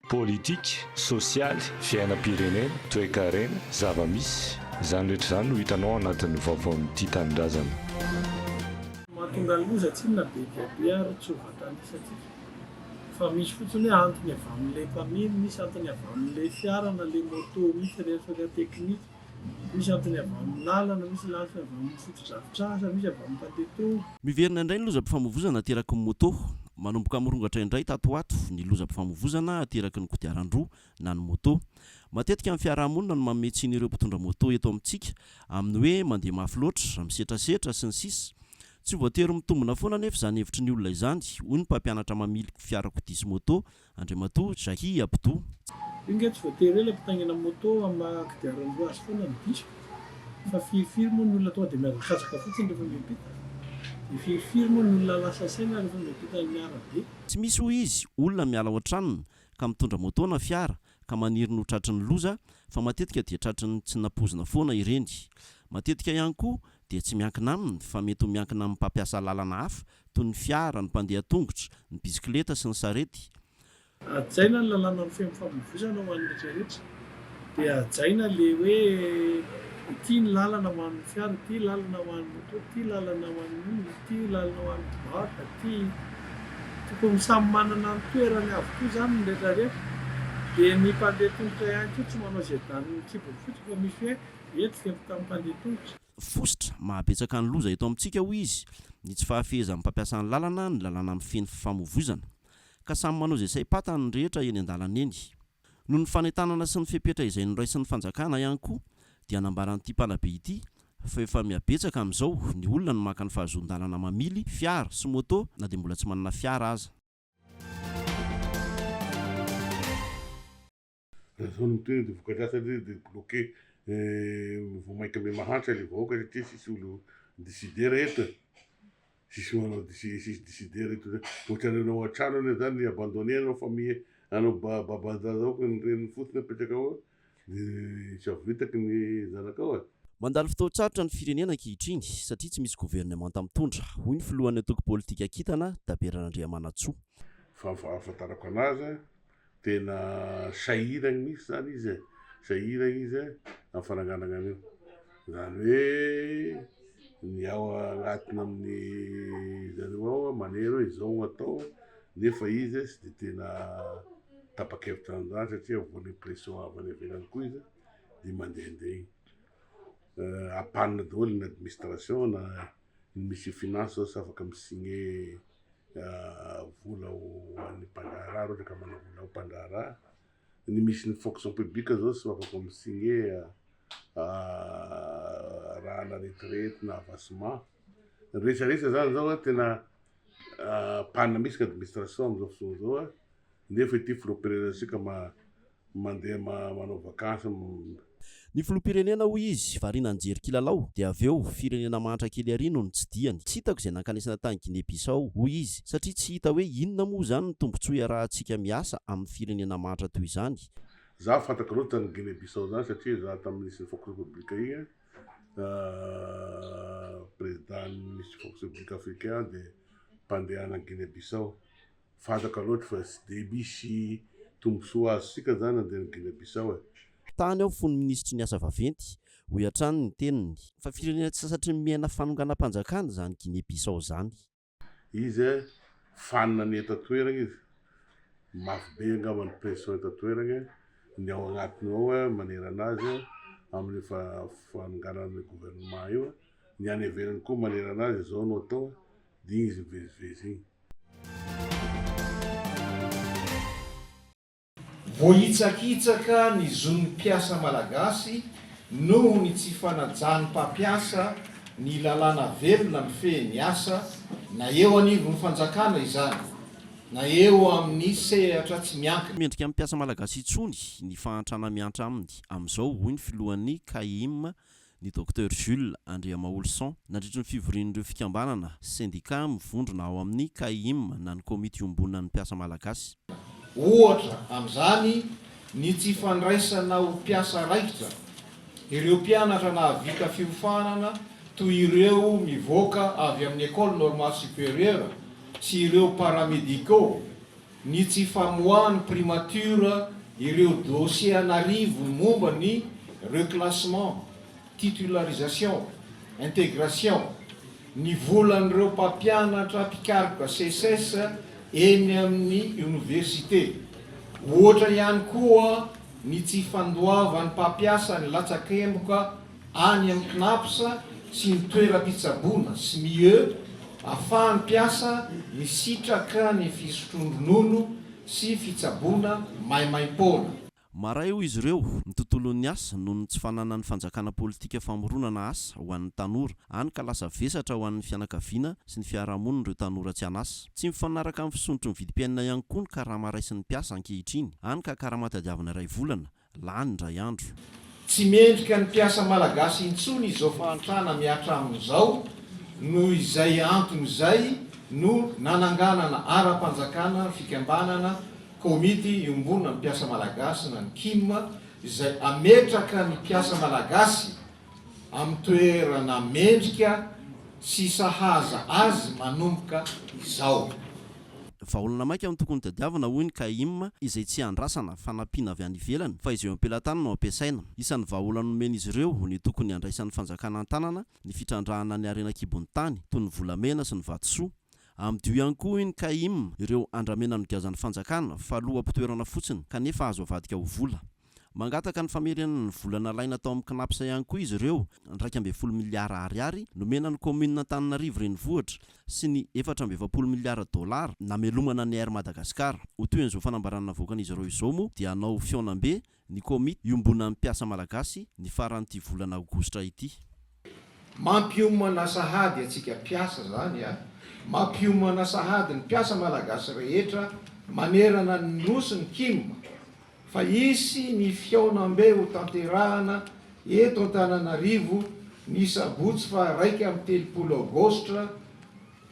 Politika, sosialy, fiainam-pirenena, toekarena, zava-misy, izany rehetra izany no hitanao ao anatin'ny vaovaon'ny Tia Tanindrazana. Mahatonga loza tsinona be dia be ary tsy ho vatanisantsika fa misy fotsiny hoe antony avy amin'ilay mpamily, misy antony avy amin'ilay fiara na ilay moto misy, resaka teknika. Misy antony avy amin'ny lalana, misy ny antony avy amin'ny fotodrafitrasa, misy avy amin'ny pateto. Miverina indray ny lozam-pifamoivoizana ateraky ny moto. Manomboka mirongatra indray tato ho ato ny lozam-pifamoivoizana ateraky ny kodiaran-droa na ny moto. Matetika ny fiarahamonina no manome tsiny ireo mpitondra moto eto amintsika amin'ny hoe mandeha mafy loatra, misetrasetra, sy ny sisa Tsy ho voatery mitombina foana anefa izany hevitry ny olona izany, hoy ny mpampianatra mamily fiarakodia sy moto Andriamatoa Jahi Abdou. Io nge tsy voatery ela mpitaingina moto am maha kodiaran-droa azy foana ny diso fa firy firy moa ny olona tonga dia mihazakazaka fotsiny rehefa miampita? Dia firy firy moa ny olona lasa saina rehefa miampita ny arabe? Tsy misy hoy izy olona miala ao an-tranony ka mitondra moto na fiara ka maniry ny ho tratry ny loza fa matetika dia tratry ny tsy nampoizina foana ireny. Matetika ihany koa dia tsy miankina aminy fa mety ho miankina amin'ny mpampiasa lalana hafa toy ny fiara, ny mpandeha an-tongotra, ny bisikileta sy ny sarety. Hajaina ny lalàna mifehy ny famoivoizana ho an'ny rehetra rehetra, dia hajaina ilay hoe ity ny lalana ho an'ny fiara, ity lalana ho an'ny moto, ity lalana ho an'ny olona, ity lalana ho an'ny mpivarotra, ity. Tokony samy manana ny toerany avokoa izany ny rehetra rehetra, dia ny mpandeha tongotra ihany koa tsy manao izay danin'ny kibon'ny fototra fa misy hoe eto velon-tanin'ny mpandeha tongotra. Fositra mahabetsaka ny loza eto amintsika, hoy izy, ny tsy fahafehezan'ny mpampiasa ny lalana, ny lalàna mifehy ny fifamoivoizana. Ka samy manao izay saim-patany ny rehetra eny an-dalana eny. Noho ny fanentanana sy ny fepetra izay noraisin'ny fanjakana ihany koa dia nambaran'ity mpanabe ity fa efa mihabetsaka amin'izao ny olona no maka ny fahazoan-dalana mamily fiara sy moto na dia mbola tsy manana fiara aza. Raha zao no tena de vokadratsy anie de bloquer vao maika mbe mahantra le vahoaka satria tsisy olo mi-decider eto e! Tsisy manao tsisy decider eto zany, ohatrany anao an-trano anie zany ny abandonner anao famille anao babandraza ao ka ny reniny fotsiny apetraka ao de tsy avitaky ny zanakao e! Mandalo fotoan-tsarotra ny firenena ankehitriny satria tsy misy governemanta mitondra, hoy ny filohan'ny antoko politika kintana, Dabera Randriamanantsoa. Fa ny fahafantarako anazy, Tena sahiragny mihitsy zany izy e, sahiragny izy e amin'ny fananganagna an'io. Zany hoe ny ao agnatiny amin'ny zareo ao manery hoe izao no atao nefa izy tsy dia tena tapa-kevitra an'izany satria voan'ny pression avy any ivelany koa izy dia mandehandeha iny. En panne daholo ny administration na ny Monsieur Finance zao tsy afaka mi-signer. vola ho an'ny mpandraharaha raha ohatra ka manao vola ho mpandraharaha. Ny misy ny fonction publique izao tsy afaka mi-signer rahana retraite na avancement. Ny rehetra rehetra izany izao tena panina mihitsy ny administration amin'izao fotoana izao. Nefa ity filoham-pirenena isika mandeha manao vakansy. Ny filoham-pirenena hoy izy variana nijery kilalao dia avy eo firenena mahantra kely ary no nitsidihany. Tsy hitako izay nankanesana tany Guinée Bissau hoy izy satria tsy hita hoe inona moa izany ny tombontsoa iarahantsika miasa amin'ny firenena mahantra toy izany. Izaho fantako loatra an'i Guinée Bissau izany satria izaho tamin'ny nisy ny Fox Republic iny président nisy Fox Republic Africain aho dia mpandeha any Guinée Bissau. fataka loatra fa tsy dia misy tombontsoa azontsika izany na dia any Guinée Bissau e. Tany aho fony minisitry ny asa vaventy, hoy hatrany ny teniny. Fa firenena tsy sasatry ny miaina fanonganam-panjakana izany Guinée Bissau izany. Izy e, fanina ny eto an-toerana izy. Mafy be angamba ny pression eto an-toerana e, ny ao agnatiny ao e, manerana azy e, amin'io fanonganana ny gouvernement io e. Ny any ivelany koa manerana azy izao no atao e. dia izy mivezivezy iny. Voahitsakitsaka ny zon'ny mpiasa malagasy noho ny tsy fanajan'ny mpampiasa ny lalàna velona mifehy ny asa, na eo anivon'ny fanjakana izany, na eo amin'ny sehatra tsy miankina. Tsy mendrika amin'ny mpiasa malagasy intsony ny fahantrana miantra aminy amin'izao, hoy ny filohan'ny Caem, ny Docteur Jules Andriamaolison, nandritry ny fivorian'ireo fikambanana, sendika, mivondrona ao amin'ny CAIM na ny Komity Iombonan'ny Mpiasa Malagasy. Ohatra amin'izany ny tsy fandraisana ho mpiasa raikitra ireo mpianatra nahavita fiofanana toy ireo mivoaka avy amin'ny Ecole Normale Supérieure sy ireo Paramédicaux ny tsy famoahan'ny primature ireo dossiers an'arivony momba ny reclassement, titularisation, intégration, ny volan'ireo mpampianatra mpikaroka Seces eny amin'ny oniversite. Ohatra ihany koa ny tsy fandoavan'ny mpampiasa ny latsakemboka any amin'ny Cnaps sy ny toeram-pitsaboana, SMIE, afahan'ny mpiasa misitraka ny fisotroan-dronono sy fitsaboana maimaim-poana. Maray, hoy izy ireo, ny tontolon'ny asa noho ny tsy fananan'ny fanjakana politika famoronana asa ho an'ny tanora, hany ka lasa vesatra ho an'ny fianakaviana sy ny fiarahamonina ireo tanora tsy an'asa. Tsy mifanaraka amin'ny fisondrotry ny vidim-piainana ihany koa ny karama raisin'ny mpiasa ankehitriny, hany ka karama tadiavina iray volana, lany indray andro. Tsy mendrika ny mpiasa malagasy intsony izao fahantrana mihatra aminy izao noho izay antony izay no nananganana ara-panjakana ny fikambanana Komity iombonana ny mpiasa malagasy na ny kim izay ametraka ny mpiasa malagasy amin'ny toerana mendrika sy sahaza azy manomboka izao. Vahaolana maika no tokony tadiavina, hoy ny Caim, izay tsy andrasana fa nampiana avy any ivelany, fa izay eo am-pelatany no ampiasaina. Isan'ny vahaolana nomen'izy ireo ny tokony handraisan'ny fanjakana an-tanana ny fitrandrahana ny harena an-kibon'ny tany, toy ny volamena sy ny vatosoa. Amidio ihany koa, hoy ny Caim, ireo andramena nogiazan'ny fanjakana fa loha-pitoerana fotsiny, kanefa azo avadika ho vola. Mangataka ny famerenana ny vola nalaina tao amin'ny Cnaps ihany koa izy ireo, iraika ambin'ny folo miliara ariary nomena ny kaominina Antananarivo Renivohitra sy ny efatra amby efapolo miliara dolara namelomana ny Air Madagascar. Ho toy an'izao fanambarana navoakan'izy ireo izao moa dia hanao fihaonambe ny komity iombonan'ny mpiasa malagasy ny faran'ity volana aogositra ity. Mampiomana sahady atsika mpiasa zany a! Mampiomana sahady ny mpiasa malagasy rehetra manerana ny Nosy ny Kim fa hisy ny fihaonambe ho tanterahana eto Antananarivo ny sabotsy faha iraika amby telopolo aogositra